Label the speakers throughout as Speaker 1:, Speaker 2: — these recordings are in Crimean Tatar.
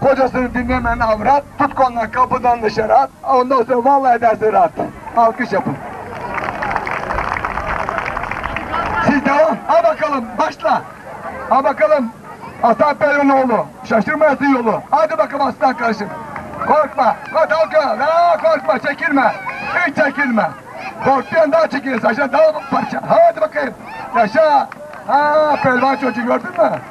Speaker 1: Qocasını diñlemen avrat, tutqanına qapıdan dışarı at. Ondan soñ vallahi de zırat. Alqış yapın. Siz devam. A baqalım, başla. A baqalım, Aslan Pelin oğlu, şaşırmayasın yolu. Adi baqalım Aslan qardaşım. Qorqma, hadi alqa, aa, qorqma, çekilme. İç çekilme. Qorqtuyan daa çekilir, saçlar daa parça. Hadi baqayım, yaşa. Aa, pelvan çocuq, gördün mü?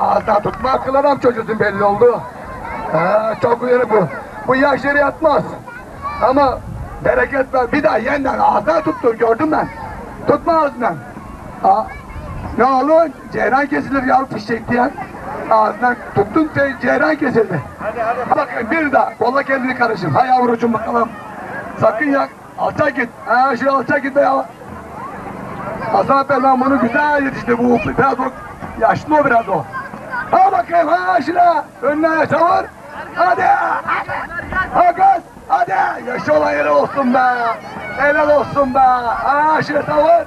Speaker 1: Ağızda tutma aqqında da çocuqnıñ belli oldu. Çoq güleri bu. Bu yaş yere yatmaz. Amma bereket ber, bir daa yenden ağızdan tuttu, kördim men. Tutma ağızından. Ne oldu? Ceyran kesilir yav fişek diyen. Ağızından tuttun, ceyran kesildi. Baqıñ, bir daa qolla kendini qarışım. Hay yavrucuğım, baqalım. Sakın yak. Alta git, aa, şe alta git, aa. Hasan Perman bunı güzel yetiştirdi, bu biraz o, yaşlı o biraz o. Aa, bakayım, aa, şine, önüne yaşavur, hadi, aa, gaz, hadi, yaşa ola, helal olsun be, helal olsun be, aa, şine savur.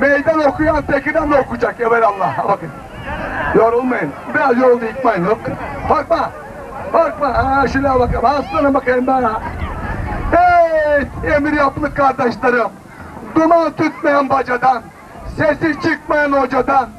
Speaker 1: Meydan oquyan tekidan da oqucak evelâlla. Baqıñ, yorulmayıñ, biraz yoruldı yıqmayıñ, yoq. Qorqma, qorqma, aa, şulâ baqıñ, aslanım baqayım bana. Ey, emir yaplı qardaşlarım, duman tütmeyen bacadan, sesi çıqmayan ocadan.